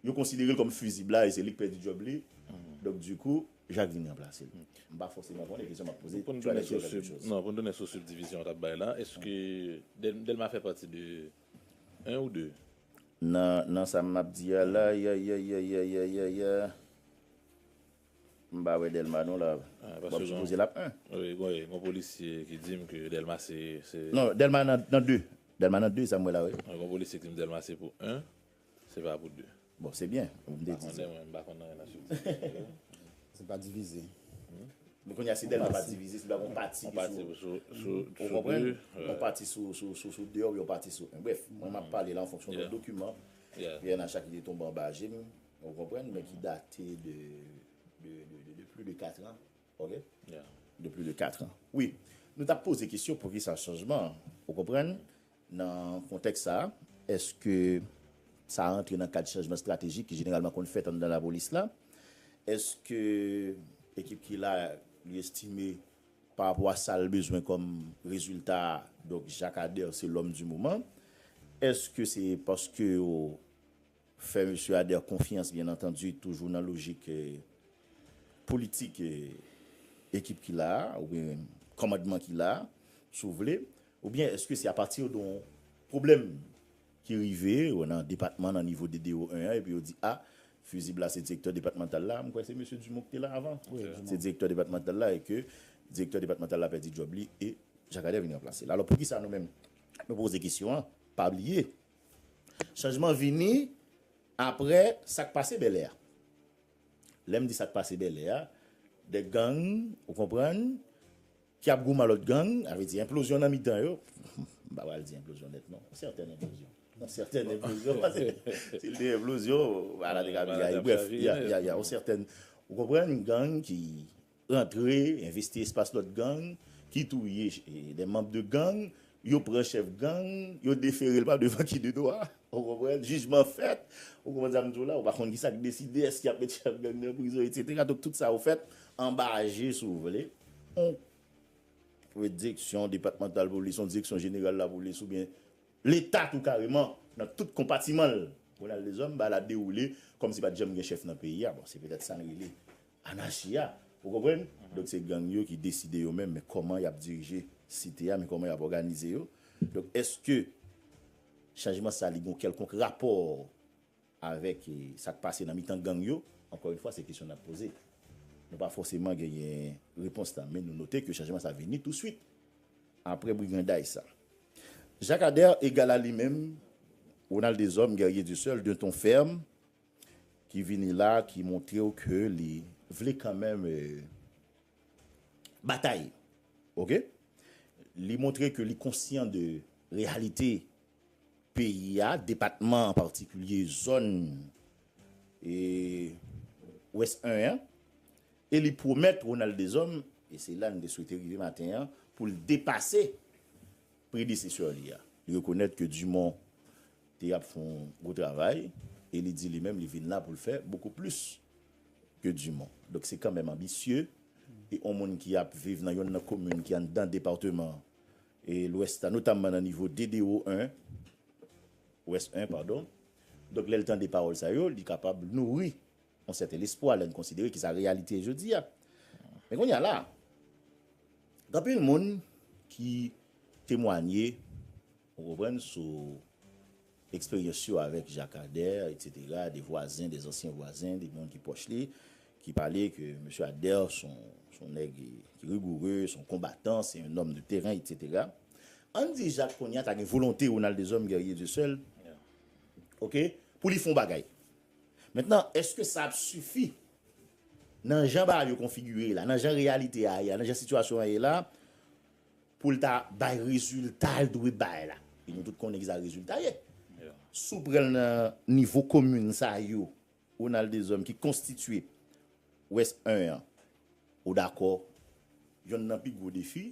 Yo konsidere l kòm fizib la e se li k pèdi djòb li. Donk di kou, Jak vin ranplase l. M pa fòseman konnen, kesyon m ap poze. Pou n tounen sou sub, non, pou n tounen sou subdivision w t ap bay la, èske Dèlma fè pati de 1 ou 2? Nan, nan sa m ap di a la, ayayayayayayaya, m pa wè Dèlma non la. M ap sipoze l ap 1. Wi, gon, wi, gon polisye ki di m ke Dèlma se, se. Non, Dèlma nan, nan 2. Dèlma nan 2, sa m wè la, wi. Gon polisye ki di m Dèlma se pou 1. Se pa pou 2. Bon, se byen. Ou te di sa. M pa konnen mwen, m pa konnen anyen nan subdivision yo. Se pa divize. Men kounye a si Dèlma pa divize, se ta gon pati ki sou. Yon pati sou 2. Ou konprann? Yon pati sou 2 oubyen yon pati sou 1. Brèf, mwen m ap pale la an fonksyon de dokiman pnh ki te tonbe anba je m, ou konprann, men ki date de plus de 4 ans. Ok de plus de 4 ans wi nou tap poze kesyon poukisa chanjman an ou konprann nan kontèks sa a eske sa rantre nan kad chanjman estratejik ki jeneralman konn fèt anndan lapolis la eske ekip ki la li estime parapò a sal bezwen kòm rezilta donk Jakadè se lòm di moman eske se paske yo Fè Mesye Ader konfyans byen antandi toujou nan lojik politik ekip ki la a oubyen kòmandman ki la a si w vle oubyen èske se apati de yon pwoblèm ki rive nan depatman nan nivo DDO 1 an epi yo di a fizib la se direktè depatmantal la m kwè se Mesye Dumont ki te la avan se direktè depatmantal la e ke direktè depatmantal la pèdi djòb li e Jacques Ader vin ranplase l alò poukisa nou menm nou poze kesyon an pa bliye Chanjman vini aprè sa k pase Bèlè a. Lè m di sa k pase Bèlè a, de gang, ou konprann, ki ap goumen ak lòt gang, sa vle di enplozyon nan mitan yo, m pa pral di enplozyon nèt non, yon sètèn enplozyon, yon sètèn enplozyon, pase si l te enplozyon, bagay la te ka pi rayi, brèf, ya, ya, ya, yon sètèn, ou konprann, gang ki. Rantre, envesti espas lòt gang ki touye de manb de gang, yo pran chèf gang, yo defere l pa devan ki de dwa, ou konprann, jijman fèt, ou konprann sa m di w la, ou pa konn kisa k deside, èske y ap met chèf gang nan prizon etsetera, donk tout sa yo fèt anba je si w vle, yon direksyon depatmantal polis, yon direksyon jeneral lapolis oubyen leta tou kareman nan tout konpatiman l, Ronald Deshommes ba la dewoule kòmsi pa t janm gen chèf nan peyi a, bon se petèt sa n rele Anachi a. Ou konprann? Donk se gang yo ki deside yo menm men kòman y ap dirije site a, men kòman y ap òganize yo. Donk èske chanjman sa li gen yon kèlkonk rapò avèk sa k pase nan mitan gang yo? Ankò yon fwa se kesyon n ap poze. Nou pa fòseman genyen repons la men nou note ke chanjman sa vini touswit apre briganday sa. Jacques Ader egal a li menm, Ronald Deshommes, Guerrier Dieuseul, d'un ton ferme, Ki vini la ki montrew ke li vle kanmenm batay ok li montre ke li konsyan de reyalite peyi a depatman an patikilye zòn wès 1 an e li pwomèt Ronald Deshommes e se la n te swete rive maten an pou l depase predesesè li a. Li rekonèt ke Dumont te ap fè yon gwo travay e li di li menm li vin la pou l fè bokou plis ke Dumont. Donk se kanmenm anbisye e yon moun ki ap viv nan yonn nan komin ki anndan departeman Lwès la, notamman nan nivo DDO 1, Ouest 1 padon. Donk lè l tande pawòl sa yo, li kapab nouri Yon sèten lespwa lè n konsidere ki sa reyalite ye jodi a. Men kounye a la a, gen anpil moun ki temwanye, ou konprann, sou eksperyans yo avèk Jacques Ader, eksetera, de vwazen, de zansyen vwazen, de moun ki pwòch li, ki pale ke Mesye Ader s on nèg ki rigoureux, s on konbatan, se yon nòm de teren, eksetera. An n di Jacques kounye a ta gen volonte Ronald Deshommes, guerrier Dieu seul, ok, pou li fè yon bagay. Mentnan, èske sa ap sifi? Nan jan bagay yo konfigire la, nan jan reyalite a ye a, nan jan sitiyasyon an ye la, pou l ta bay rezilta l dwe bay la? E nou tout konnen ki sa rezilta ye. Si w pran l nan nivo komin sa yo, Ronald Deshommes, ki konstitye West 1 an, ou dakò yonn nan pi gwo defi,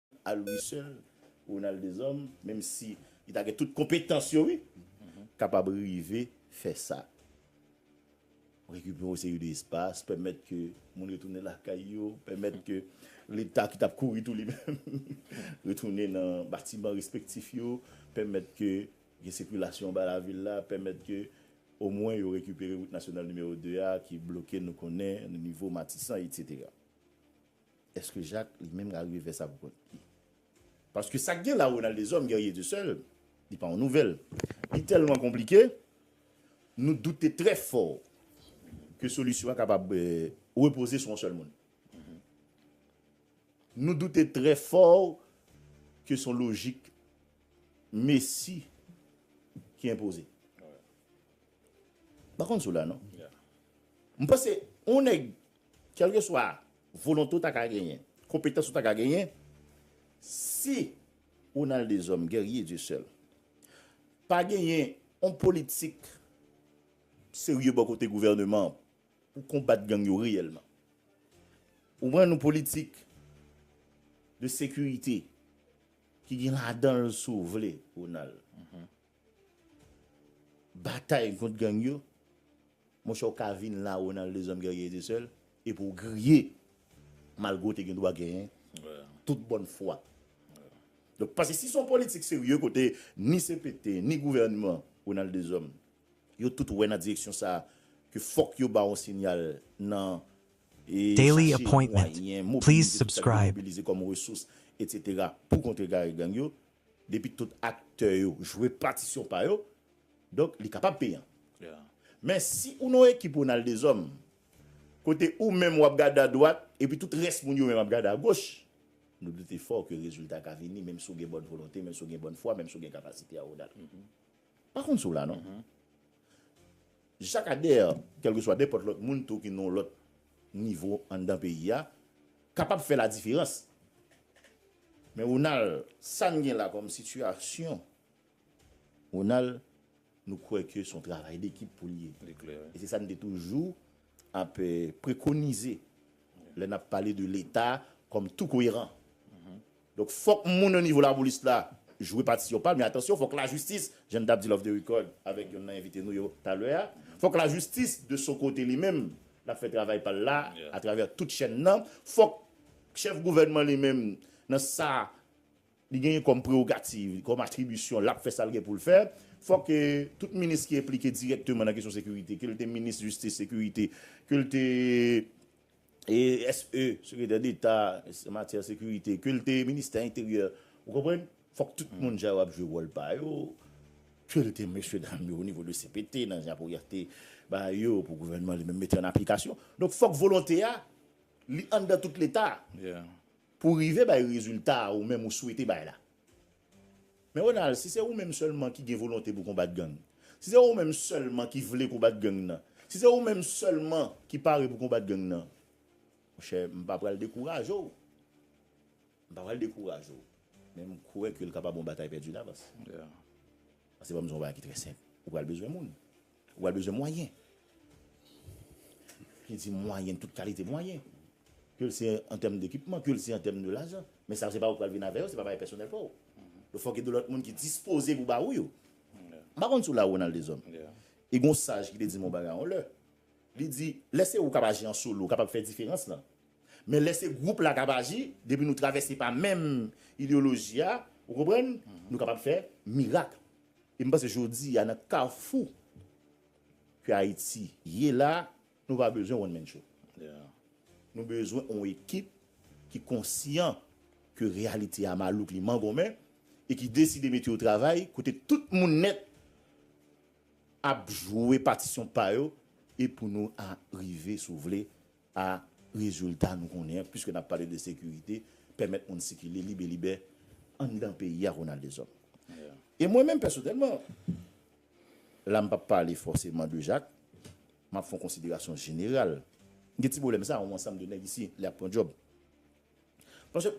Al wi sèl Ronald Deshommes menm si li ta gen tout konpetans yo wi kapab rive fè sa. Rekipe yon seri de espas, pèmèt ke moun retounen lakay yo, pèmèt ke leta ki tap kouri tou li menm retounen nan batiman respektif yo, pèmèt ke gen sikilasyon anba lavil la, pèmèt ke omwen yo rekipere wout nasyonal nimewo 2 a ki bloke nou konnen nan nivo Matisan etc. Eske Jacques li menm rarive vè sa pou kont li? Paske sak gen la Ronald Deshommes guerrier de seul li pa yon nouvèl. Li tèlman konplike nou doute trè fò ke solisyon an kapab repoze sou yon sèl moun. Nou doute trè fò ke son lojik Messi ki enpoze. M pa konn si w la non. M panse yon nèg Kèlkeswa volonte ou ta ka genyen, konpetans ou ta ka genyen, si ou nan Lldezòm, Guerrier Dieu Seul, pa genyen yon politik serye bò kote gouvèneman an pou konbat gang yo reyèlman. Ou konprann? Yon politik de sekirite ki gen ladan l, si w vle, Ronald, Batay kont gang yo, monchè ou ka vin la Ronald les hommes guerriers étaient seuls epi ou griye malgre ou te gen dwa genyen tout bòn fwa. Donk pase si son politik serye kote ni cpt ni gouvènman Ronald des hommes yo tout wè nan direksyon sa ke fòk yo ba on sinyal nan Daily chache appointment. mwayen Please mobilize tout sa ki gen subscribe. mobilize kòm resous etc pou kontrekare gang yo. Depi tout aktè yo jwe patisyon pa yo, donk li kapab peyan. Men si ou nan yon ekip Ronald Deshommes, kote ou menm w ap gade adwat, epi tout rès moun yo menm ap gade agoch, nou doute fò ke rezilta ka vini menm si w gen bòn volonte, menm si w gen bòn fwa, menm si w gen kapasite a Ronald. M pa konn si w la non. Jakadèr, kèlkeswa nenpòt lòt moun tou ki nan yon lòt nivo anndan peyi a, kapab fè ladiferans. Men Ronald, sa n gen la kòm sitiyasyon, Ronald, nou kwè ke s on travay dekip pou l ye. E se sa n te toujou ap prekonize lè n ap pale de Leta kòm tou koyeran. Donk fòk moun nan nivo lapolis la jwe patisyon pal men atansyon fòk lajistis jan n tap dil off the record avèk yonn nan envite nou yo talè a fòk lajistis de son kote li menm lap fè travay pal la atravè tout chèn nan fòk chèf gouvènman li menm nan sa li genyen kòm prerogativ kòm atribisyon lap fè sal gen poul fè fòk tout minis ki enplike dirèkteman nan kesyon sekirite kel te minis jistis sekirite kel te. CSE, Sekretè Deta, Matyè Sekirite, ke l te Ministè Enteryè, ou konprann, fòk tout moun sa yo ap jwe wòl pa yo, ke l te mesye dam yo o nivo de CPT, nan japo ya te ba yo pou gouvènman li menm mete an aplikasyon. Donk fòk volonte a, li anndan tout Leta pou rive bay rezilta a ou menm ou swete bay la. Men Ronald, si se ou menm sèlman ki gen volonte pou konbat gang, si se ou menm sèlman ki vle konbat gang nan, si se ou menm sèlman ki pare pou konbat gang nan, monchè, m pa pral dekouraje w. M pa pral dekouraje w. Men m kwè ke l kapab yon batay pèdi davans. Pase banm di w yon bagay ki trè senp, ou pral bezwen moun. Ou pral bezwen mwayen. Li di mwayen, tout kalite mwayen. Ke l se an tèm dekipman, ke l se an tèm de lajan. Men sa yo se pa ou ki pral vin avè yo, se pa bagay pèsonèl pa ou. Yo fò gen de lòt moun ki dispoze pou ba ou yo. M pa konn si w la Ronald Deshommes. E gen yon saj ki te di m yon bagay yon lè. Li di, lè se ou k ap aji an solo, ou kapab fè diferans lan. Men lè se gwoup la k ap aji, depi nou travèse pa menm ideyoloji a, ou konprann, nou kapab fè mirak. E m panse jodi a nan kafou ke Ayiti ye la, nou pa bezwen one man show. Nou bezwen on ekip ki konsyan ke reyalite a malouk li mangonmen e ki deside mete yo travay kote tout moun nèt ap jwe patisyon pa yo e pou nou a rive sou vle A. Rezilta nou konnen an, piske n ap pale de sekirite, pèmèt moun sikile libelibè anndan peyi a, Ronald Deshommes. E mwen menm pèsonèlman, la m pa p pale fòseman de Jak, m ap fè yon konsiderasyon jeneral. M gen ti pwoblèm sa a, yon ansanm de nèg isi, lè y ap pran djòb. Paske,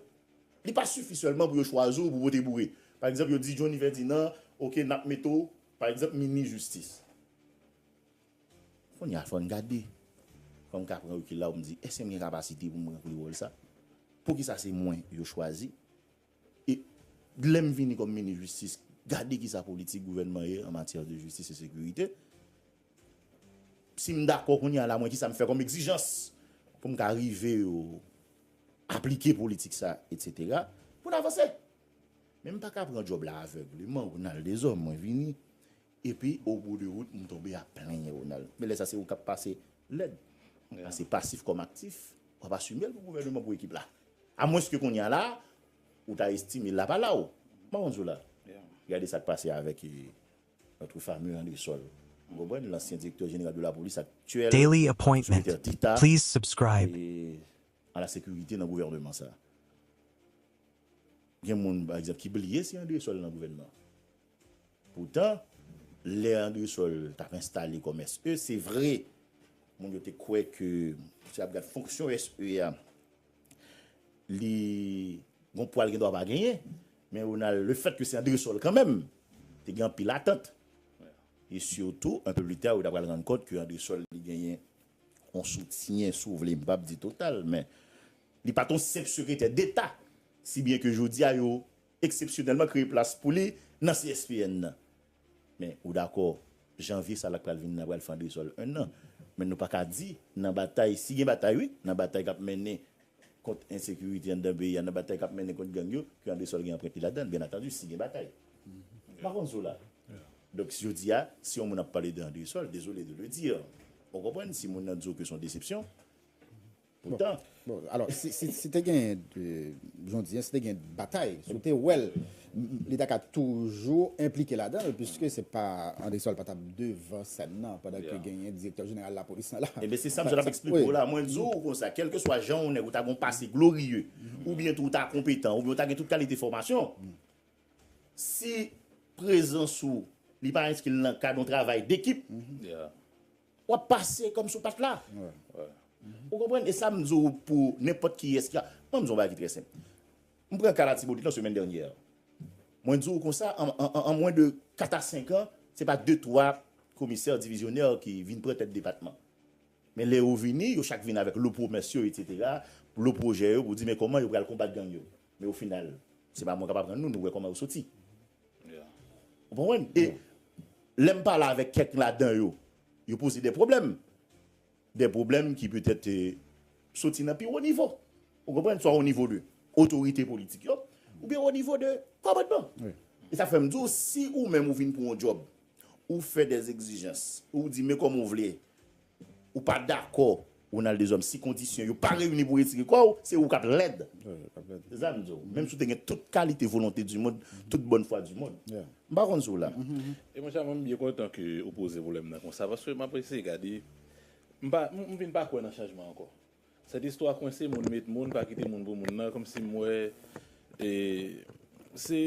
li pa sifi sèlman pou yo chwazi w pou pote boure. Pa egzanp, yo di Jhonny Fèdinan, ok, n ap mete w, pa egzanp, minis jistis. Kounye a, fò n gade. Fò m ka pran rekil la pou m di, èske m gen kapasite pou m ranpli wòl sa? Poukisa se mwen yo chwazi? E lè m vini kòm minis jistis, gade ki sa politik gouvènman ye an matyè de jistis e sekirite. Si m dakò kounye a la, mwen ki sa m fè kòm egzijans pou m ka rive yo aplike politik sa, etsetera, pou n avanse. Men m pa ka pran djòb la avègleman, ou nan l dezòm, mwen vini, Epi o bou de wout m tonbe ap plenyen Ronald. Men lè sa se ou kap pase lèd. Pase pasif kòm aktif. W ap asime l pou gouvèneman pou ekip la. A mwens ke kounya la ou ta estime Lapalaw. Maron Zola, gade sa k pase avèk notre fameux Andresol. Ou konprann? Lansyen direktè jeneral de lapolis aktyèl Daily appointment sekretè deta please subscribe. a la sekirite nan gouvèneman sa. Gen moun pa egzanp ki bliye si Andresol nan gouvèneman. Poutan, lè Andresòl t ap enstale kòm SE, se vre, moun yo te kwè ke si y ap gad fonksyon SE a, li gon pwa l gen dwa pa genyen, men Ronald, lefèt ke se Andresòl kanmenm, te gen anpil atant. E sitou, anpe pli ta, yo t apral rann kont ke Andresòl li genyen yon soutyen, si w vle, m p ap di total, men li pa t yon senp sekretè deta, si byen ke jodi a yo eksepsyonèlman kreye plas pou li nan CSPN nan. Men, ou dakò, janvye sa la k pral vini nan pral fè andresòl 1 an. Men nou pa ka di nan batay, si gen batay wi, nan batay k ap mennen kont ensekirite anndan peyi a, nan batay k ap mennen kont gang yo, ke andresòl gen anprent li ladan l, byen atandi, si gen batay. M pa konn si w la. Donk, jodi a, si yon moun ap pale de andresòl, dezole de le dire, ou konprann, si moun nan di w ke se yon desepsyon, Poutan, alò, si te gen, jan w di an, si te gen batay, si w te wè l, li ta ka toujou enplike ladan l, piske se pa, André Saul pa t ap devan sèn nan, pandan ke genyen direktè jeneral lapolis nan la. Enben, se sa m sot ap eksplike w la. Mwen di w konsa, kèlkeswa jan w nèg, ou ta gen yon pase gloriye, oubyen tou ou ta konpetan, oubyen ou ta gen tout kalite fòmasyon, si prezans ou, li pa enskri l nan kad yon travay dekip, Wap pase kòmsi ou pat la. Ou konprann? E sa m di w pou nenpòt kiyès ki a. Mwen di w yon bagay ki trè senp. M pran ka Latibonit lan semèn dènyè. Mwen di w konsa an mwen de 4 a 5 an, se pa 2, 3 komisè divizyonè ki vin pran tèt depatman. Men lè yo vini, yo chak vin avèk lo pwomès yo, etsetera, lo pwojè yo pou di men kòman yo pral konbat gang yo. Men ofinal, se pa mwen k ap aprann nou, nou wè kòman yo soti. Ou konprann? E lè m pale avèk kèk ladan yo, yo poze de pwoblèm. De pwoblèm ki petèt soti nan pi wo nivo. Ou konprann? Swa o nivo de otorite politik yo oubyen o nivo de kòmandman. E sa fè m di w, si ou menm ou vin pou yon djòb, ou fè de egzijans, ou di men kòman ou vle Ou pa dakò Ronald Deshommes si kondisyon yo pa reyini pou retire kò ou, se ou kap lèd. Se sa m di w. Menm si w te gen tout kalite volonte du mond, tout bòn fwa du mond. M pa konn si w la. E monchè mwen m byen kontan ke ou poze pwoblèm nan konsa paske m ap eseye gade m pa m vin pa kwè nan chanjman ankò. Cette histoire kwense moun met moun pa kite moun pou moun nan komsi m wè se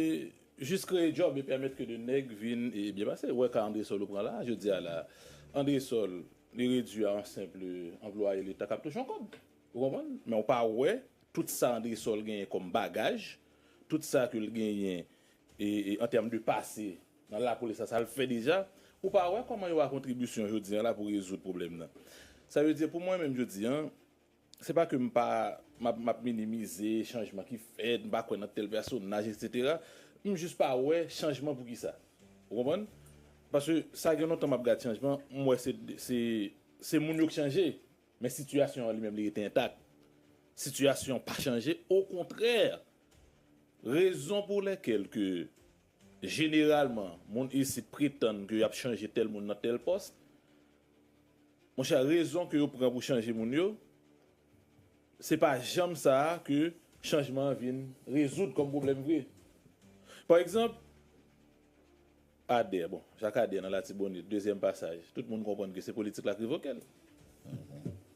jus kreye job e pèmèt ke de nèg vin byen pase ou wè ka andresol ou pran la jodi a la andresol li redwi a yon simple anplwaye leta kap touche yon kob ou konprann men ou pa wè tout sa andresol genyen kom bagaj tout sa ke l genyen en terme de pase Nan lapolis la sa l fè deja? Ou pa wè kòman yo a kontribisyon jodi an la pou rezoud pwoblèm nan. Sa vle di pou mwen menm jodi an, se pa ke m pa m ap minimize chanjman ki fèt, m pa kwè nan tèl pèsonaj eksetera, m jis pa wè chanjman pou ki sa. Ou konprann? Paske sa gen lontan m ap gad chanjman, m wè se se se moun yo k chanje, men sitiyasyon an li menm li rete entak. Sitiyasyon an pa chanje, okontrè! Rezon pou lèkèl ke Jeneralman, moun isit pretann ke yap chanje tèl moun nan tèl pòs. Monchè, rezon ke yo pran pou chanje moun yo, se pa janm sa a ke chanjman an vin rezoud kòm pwoblèm vre. Pa egzanp, Adè, bon, Jacques Adè nan Latibonit, dezyèm pasaj, tout moun konprann ke se politik la ki revoke l.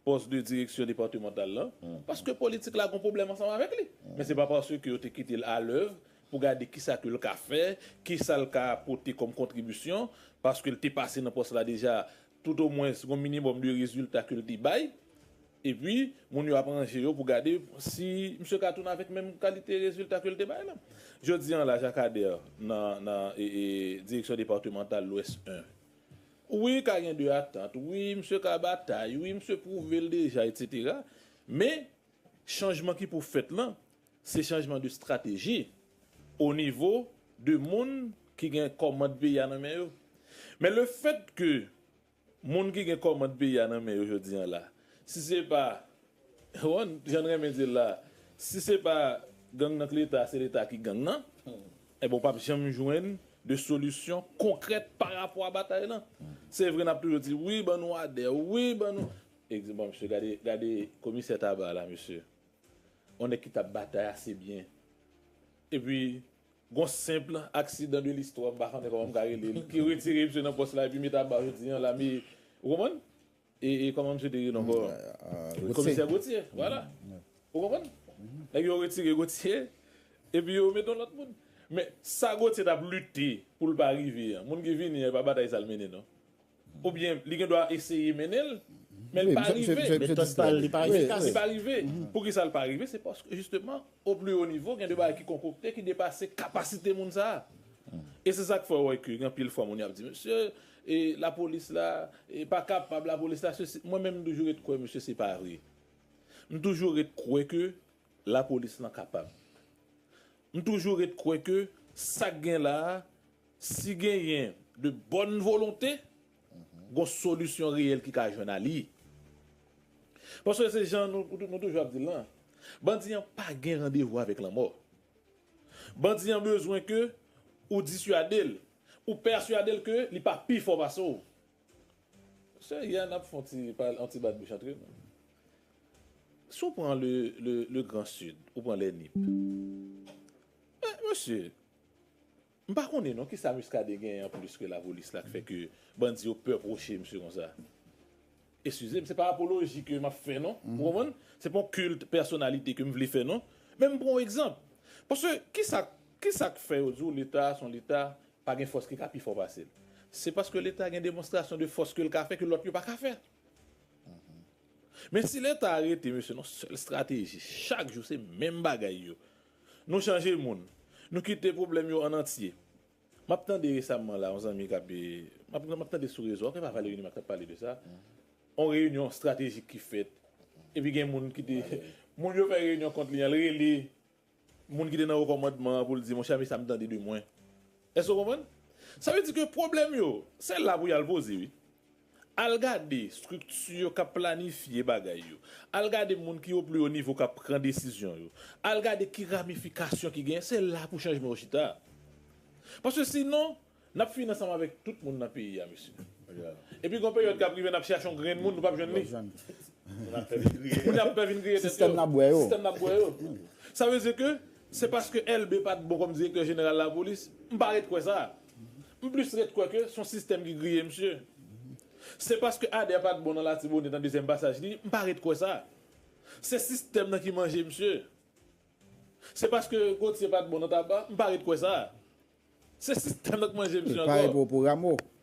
Pòs de direksyon departemantal lan, paske politik la gon pwoblèm ansanm avèk li. Men se pa paske yo te kite l alèv pou gade kisa ke l ka fè, kisa l ka pote kòm kontribisyon, paske l te pase nan pòs la deja, tout o mwens gon minimòm de rezilta ke l te bay. E pi, moun yo ap ranje yo pou gade si misye ka tounen avèk menm kalite rezilta ke l te bay la. Jodi an la Jacques Ader nan direksyon departemantal Lwès 1. Wi ka gen de atant, wi misye ka batay, wi misye pwouve l deja etc. Men chanjman ki pou fèt lan se chanjman de strateji o nivo de moun ki gen kòmand peyi a nan men yo. Men le fèt ke moun ki gen kòmand peyi a nan men yo jodi an la, si se pa jan n renmen di l la, si se pa gang nan k leta se leta ki gang nan. Enben ou pap janm jwenn de solisyon konkrèt pa rapò a batay lan. Se vre nap toujou di wi ban nou adè, wi ban nou. Egzanp bon mesye gade gade komisè Tabar la mesye. On nèg ki tap batay ase byen. Epi gon senpl aksidan de listwa m pa konnen kòman m ka rele l ki retire misye nan pòs la epi me Tabar jodi an la me ou konprann? E kòman misye te rele ankò? Gauthier. Komisè Gauthier, vwala. Ou konprann? Nèg yo retire Gauthier, epi yo met yon lòt moun. Men, sa Gauthier t ap lite pou l pa rive an, moun ki vini an, e pa batay sa l mennen non. Oubyen, li gen dwa eseye mennen l, men l pa rive. Metòd pa l, li pa efikas. Li pa rive. Poukisa l pa rive? Se paske, jisteman, o pli wo nivo, gen de bagay ki konkokte, ki depase kapasite moun sa a. E se sa k fè ou wè ke gen anpil fwa moun y ap di, mesye, E lapolis la e pa kapab lapolis la sesi mwen menm mtoujou ret kwè mesye se pa vre mtoujou ret kwè ke lapolis lan kapab mtoujou ret kwè ke sak gen la si genyen de bòn volonte gon solisyon reyèl ki ka jwenn a li paske se jan nou toujou ap dil lan bandi an pa gen randevou avèk lanmò bandi an bezwen ke ou disyadel. Ou persuade l ke li pa pi fò pase w. Sè Yann ap fè yon ti pale yon ti bat bouch antre nou. Si w pran le le grand sud, ou pran les Nip. Men mesye, m pa konnen non kisa Muscadin genyen an plis ke lapolis la k fè ke bandi yo pè pwoche misye konsa. Eskize m, se pa apoloji ke m ap fè non, ou konprann? Se pa yon kilt pèsonalite ke m vle fè non. Men m pran yon egzanp. Paske kisa kisa k fè yo di w Leta a se yon Leta, pa gen fòs ki ka pi fò pase l? Se paske Leta gen demonstrasyon de fòs ke l ka fè ke lòt yo pa ka fè. Men si Leta a rete mesye nan yon sèl estrateji, chak jou se menm bagay yo. Nou chanje moun, nou kite pwoblèm yo an antye. Map tande resamman la yon zanmi kap map tande sou rezo ok epa Valery Numa ki tap pale de sa yon reyinyon estratejik ki fèt epi gen moun ki te moun yo fè reyinyon kont li an li rele moun ki te nan wo kòmandman an pou l di monchè men sa m tande de mwen èske w konprann sa vle di ke pwoblèm yo se la pou yal poze wi. Al gade strikti yo k ap planifye bagay yo. Al gade moun ki o pli o nivo k ap pran desizyon yo. Al gade ki ramifikasyon ki genyen. Se la pou chanjman yo chita. Paske sinon, n ap fini ansanm avèk tout moun nan peyi a, mesye. Epi gen yon peryòd k ap rive n ap chache yon grenn moun, nou p ap jwenn li. Moun yo ap pè vin griye tèt yo. Sistèm n ap bwè yo. Sa vle di ke se paske Elbe pa t bon kòm direktè jeneral lapolis? M pa ret kwè sa. M plis ret kwè ke son sistèm ki griye misye. Se paske Ader pat bon nan Latibonit nan dezyèm pasaj li, m pa ret kwè sa. Se sistèm nan ki manje misye. Se paske Gauthier pat bon nan Taba, m pa ret kwè sa. Se sistèm nan k manje misye ankò. L pare pou Rameau.